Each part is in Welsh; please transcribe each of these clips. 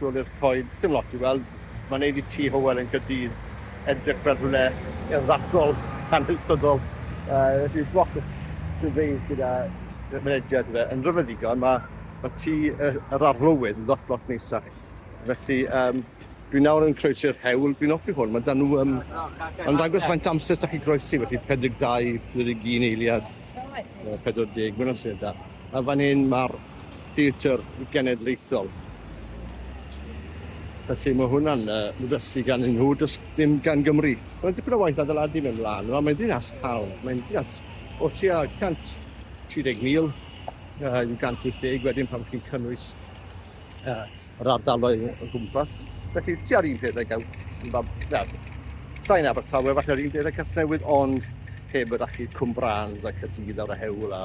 Jolly'r Coed, sdim lot i weld, mae'n neud i Tŷ Hywel yn Caerdydd edrych fel rhywle urddasol, hanesyddol, felly lot o syrfeis gyda mynediad i fe yn rhyfedd ddigon, mae ma Tŷ yr Arlywydd lot lot neisach, felly um, dwi nawr yn croesi'r hewl, dwi'n offi hwn, mae dan nhw, um, mae'n dangos faint amser sy'ch chi groesi, felly 42, 41 eiliad, 40, mae'n amser da. A fan hyn mae'r Theatr Genedlaethol. Felly mae hwnna'n yy ddysgu gan un nhw, does dim gan Gymru. Mae'n dipyn o waith adeiladu mewn wlân fel 'ma, mae'n ddinas haul, mae'n ddinas o tua 130,000 yy i'w 180 wedyn pan chi'n cynnwys yy yr ardaloedd o gwmpas, felly tua'r un peth ag ew, fel, sain Abertawe, falle yr un peth ag Casnewydd, ond heb yr achub Cwm Brans a Caerdydd a'r Hewl a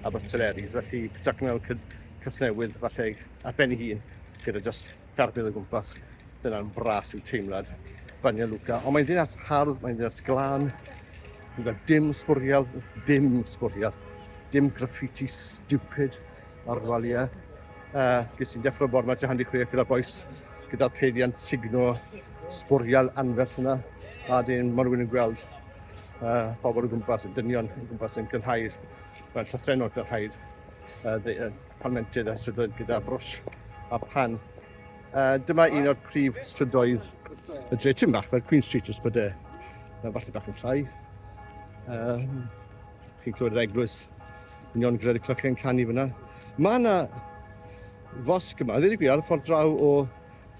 Abertyleris, felly pitach mewn cyd Casnewydd, falle ar ben ei hun, gyda just ffermydd o gwmpas, dyna'n fras yw teimlad Banja Luka. Ond mae'n ddinas hardd, mae'n ddinas glân, gyda dim sbwriel, dim sbwriel, dim graffiti stupid, Ar walia, uh, ges i'n deffro bor mae Jahan di chwech gyda'r boes, gyda'r pediant signo sbwriel anferth yna, a dyn mae rhywun yn gweld uh, pobl o gwmpas, yn dynion o gwmpas yn gynhau'r, mae'n llythrenol gynhau'r uh, uh, palmentydd a strydoedd gyda brwsh a pan. Uh, dyma un o'r prif strydoedd y dre tyn bach fel Queen Street ys bod e falle bach yn llai. Um, chi'n clywed yr eglwys Ni ond gred y clychau yn canu fyna. Mae yna fosg yma, ddweud y gwir, ar y ffordd draw o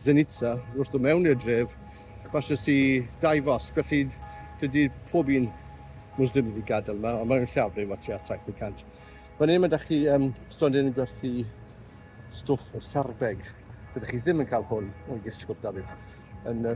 Zenitsa, wrth dod mewn i'r dref, falle si dau fosg, felly dydy pob un Muslim wedi gadael yma, ond mae'n llafrif o tua 700. Fan hyn mae da chi um, stondin yn gwerthu stwff o sarbeg. Byddwch chi ddim yn cael hwn o'i gysgwt Dafydd. Yn y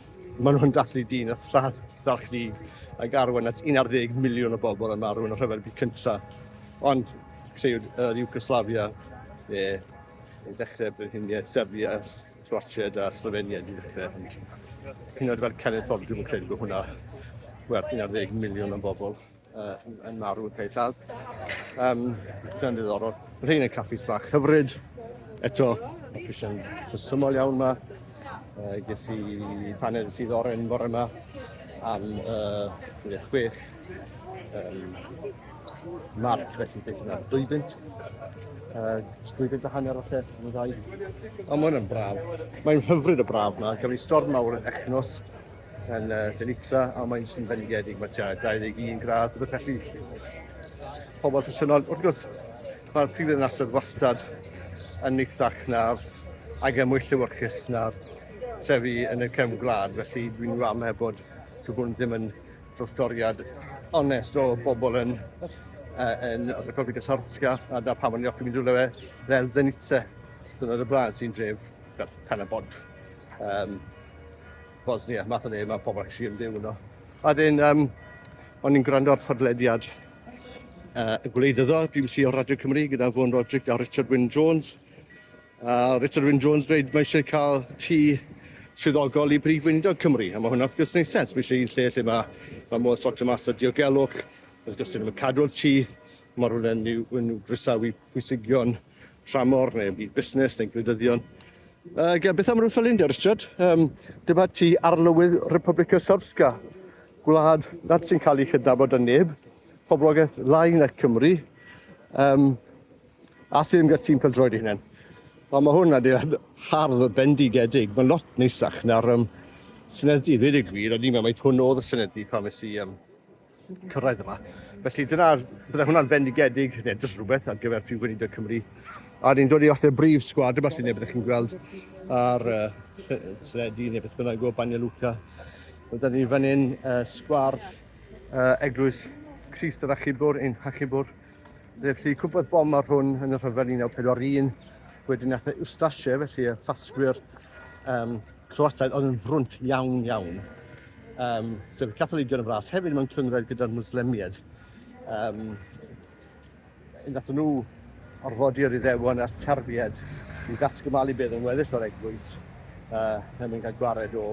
Maen nhw'n dathlu dyn a thradd ddarchfug ac arwain at 11 miliwn o bobl yn marw yn y rhyfel byd cyntaf. Ond creu yr Iwgoslafia, e, yn dechrau brenhiniaeth Serbia, Croatia a Slovenia di dechrau. Hyn oed fel cenedlaethol, dwi'n credu bod hwnna werth 11 miliwn o bobl. Uh, yn marw yn peitad. Um, Dwi'n ddiddorol. Mae rhain yn caffis bach hyfryd. Eto, mae prisiau'n rhesymol iawn yma. Uh, ges i paned sydd oren fore yma am uh, 26 um, marc, felly beth yna, 2000. Uh, 2000 a hanner o lle, yn ddau. Ond mae hwnna'n braf. Mae'n hyfryd y braf yma. Gafon ni storm mawr yn Echnos Yn uh, Zenitsa, a mae'n sy'n fendigedig, mae tua 21 gradd, rhywbeth felly. Pobl ffysiynol, wrth gwrs, mae'r prif ddinasoedd wastad yn neithach na'r ag y mwy llywyrchus na'r trefi yn y cefn gwlad, felly dwi'n rhan heb bod dwi'n hwn ddim yn drostoriad onest o bobl yn yn Republika Srpska a da pan o'n i'n offi mynd rhywle fe fel Zenitse. Dyna'r y blaen sy'n dref fel Canabod. Um, Bosnia, math o le mae pobl actually yn byw yno. A dyn, um, o'n i'n gwrando ar podlediad uh, y gwleidyddol, BBC o Radio Cymru, gyda Fôn Roderick a Richard Wyn Jones. Uh, Richard Wyn Jones dweud mae eisiau cael tŷ swyddogol i brif weinidog Cymru, a mae hwnna wrth gwrs wneud sens. Mae eisiau un lle lle mae, mae modd sortio mas y diogelwch, wrth gwrs dyn nhw'n cadw'r tŷ, mae rhywun yn i'w groesawu pwysigion tramor neu byd busnes neu gwleidyddion. Ac beth am rwy'n ffylind ar ystrad? Um, dyma ti arlywydd Republic of Srpska, gwlad nad sy'n cael ei chydnabod yn neb, poblogaeth lai na Cymru, um, a sy'n ymgad sy'n cael droed ei hunain. Ond mae hwn adeilad hardd o bendigedig, mae'n lot neisach na'r um, Senedd i ddweud y gwir, a ni'n meddwl mae hwn oedd y Senedd i pan fes i um, cyrraedd yma. Felly dyna, bydde hwnna'n fendigedig, neu jyst rhywbeth ar gyfer Prif Weinidog Cymru. A ni'n dod i fath o brif sgwad yma sy'n ei byddwch chi'n gweld ar uh, Tredi neu beth bynnag o Banja Luka. Rydyn ni fan hyn uh, sgwar uh, eglwys Christ yr Achubwr, ein Hachubwr, Felly cwmpodd bom ar hwn yn y rhyfel 1941, wedyn nath e Ustashe, felly y ffasgwyr um, Croataidd oedd yn frwnt iawn iawn. Um, sef y Catholigion yn fras, hefyd mewn cynghrair gyda'r Muslemiaid. Um, nath nhw orfodi yr iddewon a'r Serbiaid i ddatgymalu beth yn weddill o'r eglwys uh, yn mynd cael gwared o,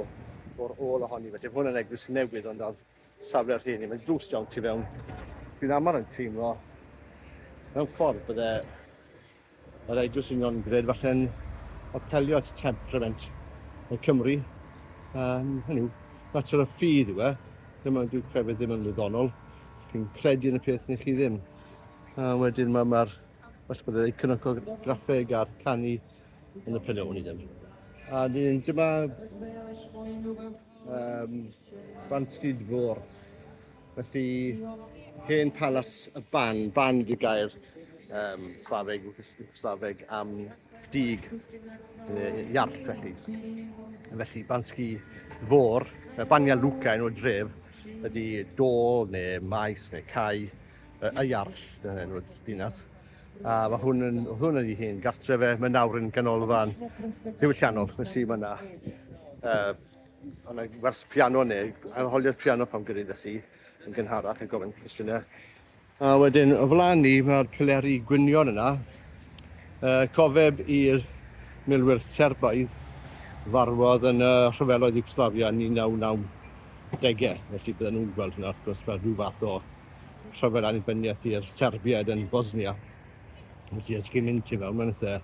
o'r ôl ohoni. Felly hwn yn eglwys newydd ond oedd safle rheini, mae'n dlws iawn tu fewn. Dwi'n aml yn teimlo mewn ffordd bydde yr Eglwys Union Gred falle'n apelio at temperament y Cymru. Um, hynny yw, mater o ffydd yw e, ddim ond dwi'n crefydd ddim yn wyddonol. Dwi'n credu yn y peth ni chi ddim. A wedyn mae'r ma, falle bod ei cynocograffeg a'r canu yn y penyw'n i ddim. A dyn, dyma Um, Banstryd Fôr. Felly, hen palas y ban, ban di gair um, Slaveg, Slaveg am dig uh, iarll felly. Felly, Bansgi Fôr, Bania Luca yn o'r dref, ydy dôl neu maes neu cae y iarll yn o'r dinas. A mae hwn yn, oedd hwn yn ei hun, gartre fe, mae nawr yn ganolfan diwylliannol, nes i fyna. Uh, yna wers piano neu, arholiad piano pan gyda'i ddysgu yn gynharach yn gofyn cwestiynau. A wedyn, o flaen ni, mae'r pileri gwynion yna. Uh, cofeb i'r milwyr Serbaidd farwodd yn y rhyfeloedd Yugoslavia yn 1990. Felly bydden nhw'n gweld hynna, wrth gwrs, fel rhyw fath o rhyfedd annibyniaeth i'r Serbiaid yn Bosnia. Felly, os chi'n mynd ti mewn mewn eitha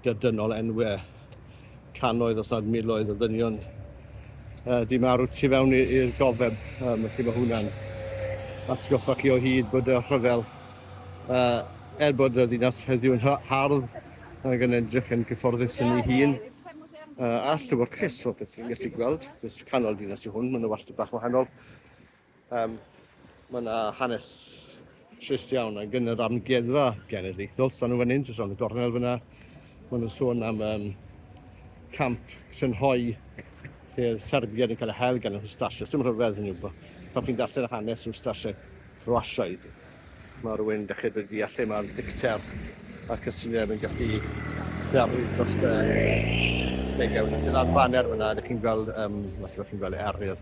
dydynol enwe canoedd os nad miloedd o ddynion uh, di marw tu fewn i'r gofeb. Um, felly mae hwnna'n atgoffa chi o hyd bod y rhyfel, uh, er bod y ddinas heddiw yn hardd, ac yn edrych yn gyfforddus yn ei hun, uh, a llyfr cres o beth chi'n gallu gweld, jyst canol dinas i hwn, mae'n yna wastad bach wahanol. Um, mae yna hanes trist iawn a gyn yr amgueddfa genedlaethol. Sa'n nhw fan hyn, jyst rhan y gornel fyna. Mae nhw'n sôn am um, camp Trynhoi, lle oedd Serbiaid yn cael eu hel gan yr Hwstasiaid. Dim rhyfedd hynny yw, pan chi'n darllen yr hanes Hwstasiaid Croasiaidd, mae rhywun dechrau dod i allu mae'r dicter ac y syniad yn gallu ddarlu dros y degau. Dyna'r faner fyna, ydych chi'n gweld, um, os ydych chi'n gweld eryr,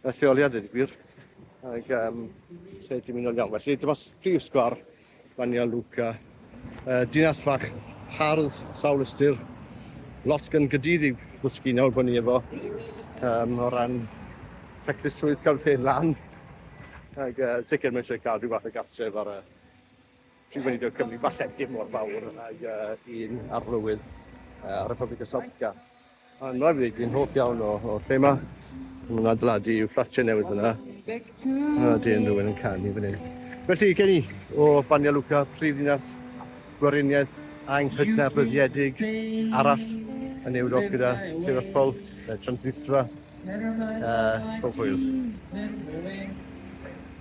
Y lleoliad wedi gwir. Ac um, lle ti'n mynd o'n iawn. Felly, dyma prif sgwar Bania Luca. Uh, dinas fach hardd, sawl ystyr, lot gan gydydd i ddysgu nawr bod ni efo um, o ran teclusrwydd cael lle lan. Ac uh, sicr mae eisiau cael rhyw fath o gartref ar y Dwi'n gwneud y cwmni falle dim mor fawr ag un arlywydd ar y Public Assaultga. Mae'n rhagfyd, dwi'n hoff iawn o, o lle ma. Mae'n adeiladu i'w fflatiau newydd fyna. A dyn rhywun yn canu fan hyn. Felly, gen i o Banja Luka, prif ddinas gweriniaeth anghydnabryddiedig arall yn Ewrop gyda Tiraspol, Transnistria, uh, pob hwyl.